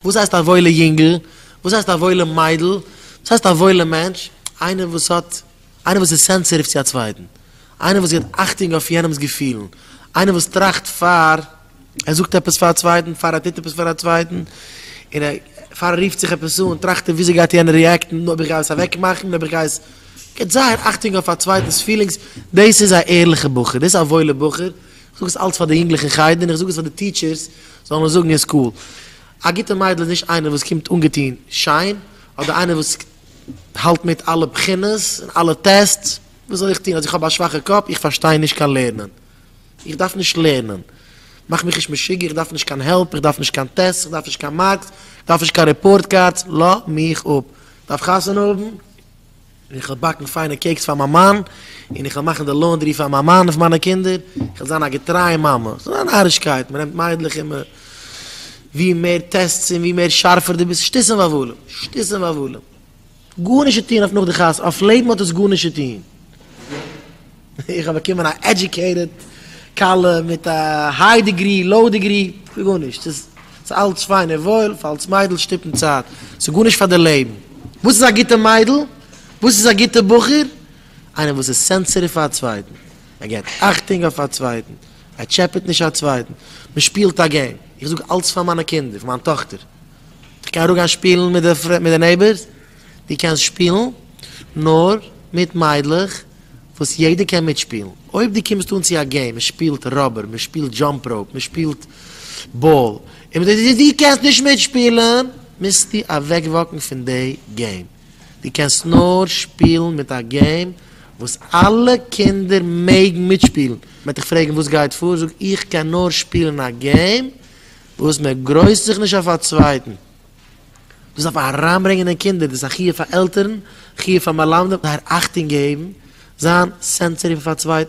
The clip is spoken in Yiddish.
וואס הייסט א וואוילע יונגל? וואס הייסט א וואוילע מיידל? וואס הייסט א וואוילע מענטש? איינער וואס האט, איינער וואס איז סענסעטיוו צו א צווייטן, איינער וואס גיבט אכטונג אויף יענעמ'ס געפילן, איינער וואס טראכט פאר ער זאגט עפעס פאר א צווייטן, פאר ער טוט עפעס פאר א צווייטן, און ער, פאר ער רופט זיך עפעס אן, טראכט ער וויאזוי גייט יענער ריעקטן, אויב איך גיי עס אוועקמאכן, אויב איך גיי עס, גיבט זייער אכטונג אויף א צווייטנ'ס פילינגס, דאס איז א ערליכע בחור, דאס איז א וואוילע בחור, זאג עס אלץ פאר די יונגלעך אין חדר און איך זאג עס פאר די טיטשערס זאלן עס זאגן אין סקול. א גוטע מיידל איז נישט איינער וואס קומט אנגעטון שיין, אדער איינער וואס האלט מיט אלע בחינות און אלע טעסטס. וואס זאל איך טון אז איך האב א שוואכע קאפ? איך פארשטיי נישט קיין לערנען. איך דארף נישט לערנען. מאך מיך נישט משוגע, איך דארף נישט קיין העלפ, איך דארף נישט קיין טעסטס, איך דארף נישט קיין מארקס, איך דארף נישט קיין רעפארט קארדס, לאז מיך אפ. דארף חתונה האבן? איך וועל באקן פיינע קעיקס פאר מיין מאן, און איך וועל מאכן די לאונדרי פאר מיין מאן און פאר מיינע קינדער, איך וועל זיין א געטרייע מאמע. ס'איז א נארישקייט, מ'נעמט מיידלעך און מ. ווי מער טעסטס און ווי מער שארפער דו ביסט, שטות און וואוואלעם, שטות און וואוואלעם. גארנישט צו טון אויף נאך די חתונה, אויף לעבן האט עס גארנישט צו טון. איך האב באקומען א עדיוקעיטעד כלה מיט א היי דעגרי, לאו דעגרי, כ'וויל גארנישט, ס'איז ס'איז אלץ פיין און וואויל, פאר אלס מיידל שטיפן צייט, ס'איז גארנישט פאר די לעבן. וואס איז א גוטע מיידל? וואס איז א גוטע בחור? איינער וואס איז סענסעטיוו פאר א צווייטן, ער געבט אכטונג אויף א צווייטן, ער טשעפעט נישט א צווייטן, מ'שפילט א געים, איך זאג אלץ פאר מיינע קינדער, פאר מיין טאכטער, איך קען אראפגיין שפילן מיט די מיט די נעיבערס? דו קענסט שפילן נאר מיט מיידלעך וואס יעדער קען מיטשפילן. אויב דו קומסט אן צו א געים, מען שפילט ראבער, מען שפילט דזשאמפ ראופ, מען שפילט באל, און מען זאגט דיר דו קענסט נישט מיטשפילן, מוזטו אוועקוואקן פון די געים. דו קענסט נאר שפילן מיט א געים וואס אלע קינדער מעגן מיטשפילן. מען וועט דיך פרעגן וואס גייט פאר, זאג איך קען נאר שפילן א געים וואס מען גרויסט זיך נישט אויף א צווייטן. דאס דארף מען אריינברענגען אין קינדער, דאס איז א חיוב פאר עלטערן, חיוב פאר מלמדים, זייער אכטונג געבן, זיין סענסעטיוו אויף א צווייטן.